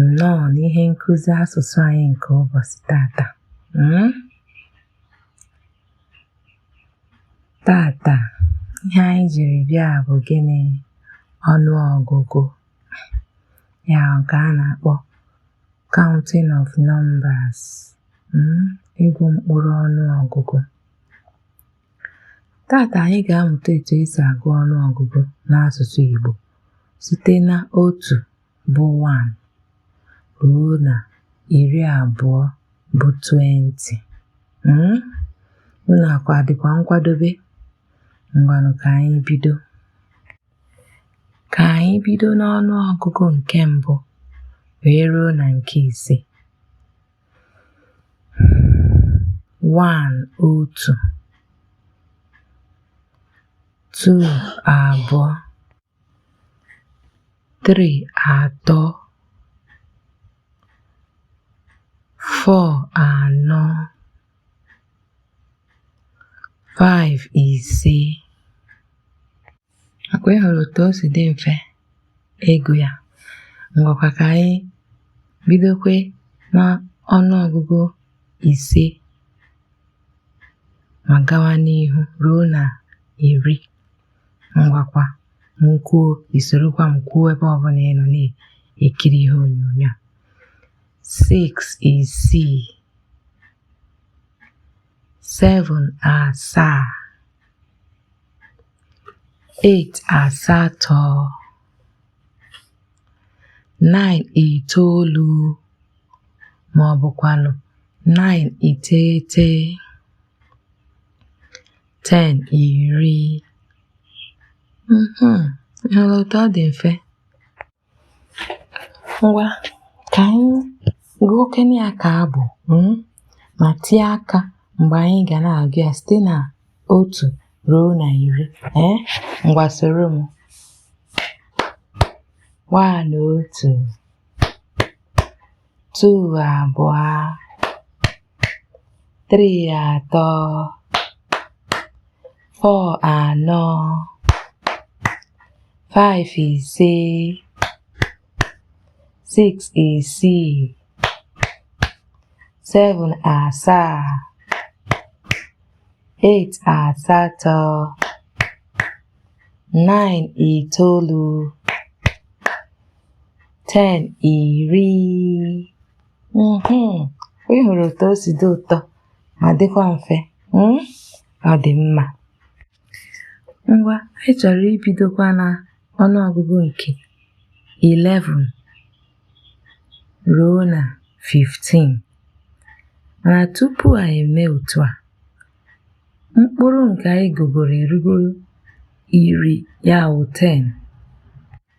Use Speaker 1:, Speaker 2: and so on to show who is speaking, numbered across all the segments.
Speaker 1: nnọọ n'ihe nkuzi asụsụ anyị nke ụbọchị taata hmm? taata ihe anyị jiri bịa bụ gịnị ọnụ ọgụgụ ya ka a na-akpọ counting of numbers hmm? ịgụ mkpụrụ ọnụ ọgụgụ taata anyị ga-amụta etu esi agụ ọnụ ọgụgụ n'asụsụ Igbo site na otu bụ 1 ruo na iri abụọ bụ 20 hmm? unu akwa dịkwa nkwadobe ngwanụ ka anyị bido ka anyị bido n'ọnụ ọgụgụ nke mbụ wee ruo na nke ise 1 otu 2 abụọ three atọ four anọ five ise akwa ị hụrụ otu o si dị mfe ịgụ ya ngwakwa ka anyị bidokwe na ọnụ ọgụgụ ise ma gawa n'ihu ruo na iri ngwakwa m kwuo i sorokwa m kwuo ebe ọbụla ị nọ na-ekiri ihe onyonyo a six isii seven asaa eight asatọ nine itoolu ma ọ bụkwanụ nine iteghete ten iri mhm. ị hụla otu ọ dị mfe ngwa ka anyị gụọkene ya ka abụ hmm? ma tie aka mgbe anyị ga na-agụ ya site na otu ruo na iri ee ngwa soro m one otu two abụọ three atọ four anọ five ise six isii seven asaa eight asatọ nine itoolu ten iri mm-hmm. ị hụrụ otu o si dị ụtọ ma dịkwa mfe hmm? ọ dị mma ngwa anyị chọrọ ibidokwa na ọnụọgụgụ nke 11 ruo na 15 mana tupu anyị eme otu a mkpụrụ nke anyị gụgoro erugo iri ya wụ 10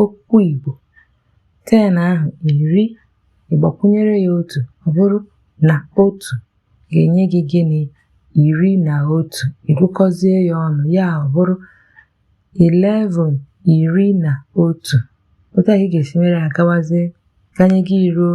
Speaker 1: Okwu Igbo ten ahụ iri ị gbakwunyere ya otu ọ bụrụ na otu ga-enye gị gịnị iri na otu ị gụkọzie ya ọnụ ya ọ bụrụ 11 iri na otu otu a ka ị ga-esi mere agawazie ganye gị eruo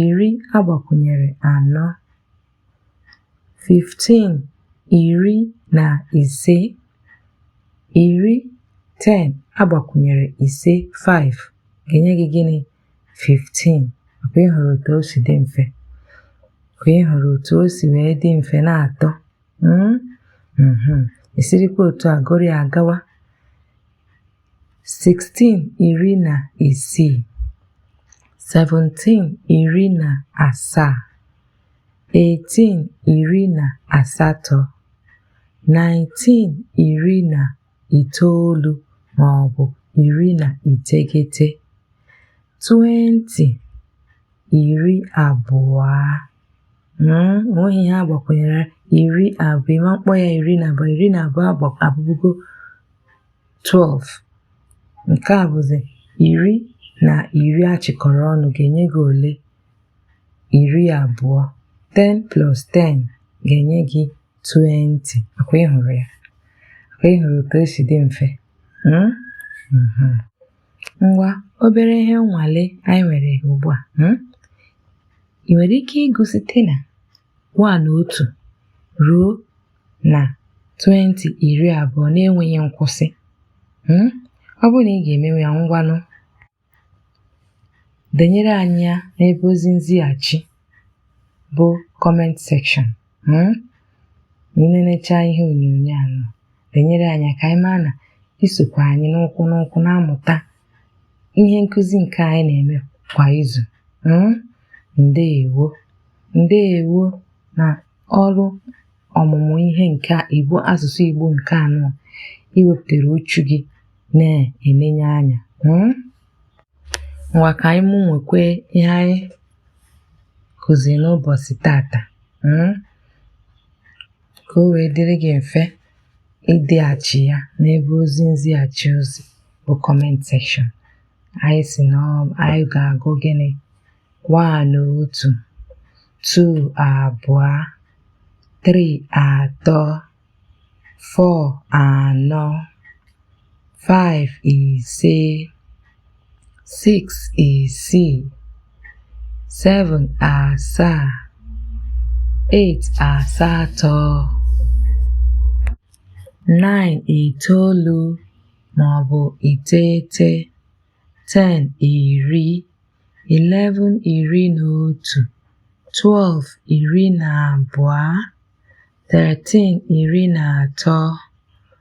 Speaker 1: iri a gbakwunyere anọ 15 iri na ise iri 10 a gbakwunyere ise 5 ga-enye gị gịnị 15 ọ kwa ị hụrụ otu o si dị mfe ọ kwa ị hụrụ otu o si wee dị mfe na-atọ hmm? hmm. e sirikwa otu a gụrụ ya agawa 16 iri na isii 17 iri na asaa 18 iri na asatọ 19 iri na itoolu ma ọ bụ iri na iteghete 20 iri abụọ mm, o nweghị ihe a gbakwunyere iri abụọ ị ma mkpọ ya iri na abụọ iri na abụọ abụgo 12 nke a bụzi iri na iri a chịkọrọ ọnụ ga-enye gị ole iri abụọ 10 plus 10 ga-enye gị 20 ọ kwa ị hụrụ ya ọ kwa ị hụrụ otu o si dị mfe hmm? mhm. ngwa obere ihe nnwale anyị nwere ugbu a hmm? ị nwere ike ịgụ site na 1 otu ruo na 20 iri abụọ na-enweghị nkwụsị hmm? ọ bụrụ na ị ga-emewe ya ngwanụ denyere anyị ya n'ebe ozi nzighachi bụ comment section hmm? ma i nenechaa ihe onyonyo a denyere anyị ka anyị maa na i sokwa anyị n'ụkwụ n'ụkwụ na-amụta ihe nkụzi nke anyị na-eme kwa izu hmm? ndeewo ndeewo na ọrụ ọmụmụ ihe nke Igbo asụsụ Igbo nke anọ i wepụtara uchu gị na-enenye anya hmm? ngwa ka anyị mụnwekwe ihe anyị kụziri n'ụbọchị tata hmm? ka o wee dịrị gị mfe ideghachi ya n'ebe ozi nzighachi ozi bụ comment section anyị sị na ọ- anyị ga-agụ gịnị one otu two abụọ three atọ four anọ five ise six isii seven asaa eight asatọ nine itoolu maọbụ iteghete ten iri eleven iri na otu twelve iri na abụọ thirteen iri na atọ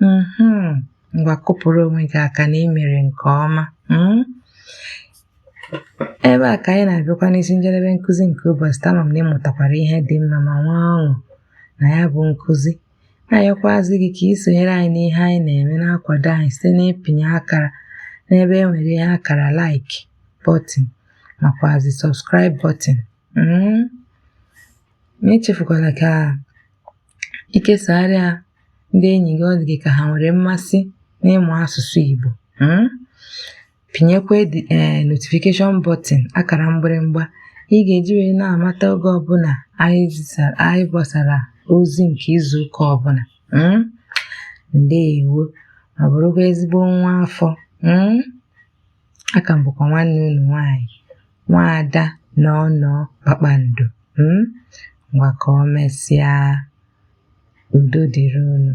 Speaker 1: mm-hmm. ngwa kụpụrụ onwe gị aka na i mere nke ọma hmm? ebe a ka anyị na-abịakwa n'isi njedebe nkụzi nke ụbọchị taa ama m na ị mụtakwara ihe dị mma ma nwee ọṅụ na ya bụ nkụzi na-ayọkwazi gị ka ị sonyere anyị n'ihe anyị na-eme na-akwado anyị site n'ịpịnye akara n'ebe e nwere ihe akara like button makwazi subscribe button hmm? ma echefukwala ka i kesara ya ndị enyi gị ọ dị gị ka ha nwere mmasị n'ịmụ asụsụ Igbo hmm? pịnyekwa ee eh, notification button akara mgbịrịmgba ị ga-eji wee na-amata oge ọbụla anyị gbasara ozi nke izu ụka ọbụla hmm? ndeewo ma bụrụkwa ezigbo nwa afọ hmm? aka m bụkwa nwanne unu nwaanyị nwaada nọọ nọọ Kpakpando hmm ngwa ka o mesịa udo dịrị unu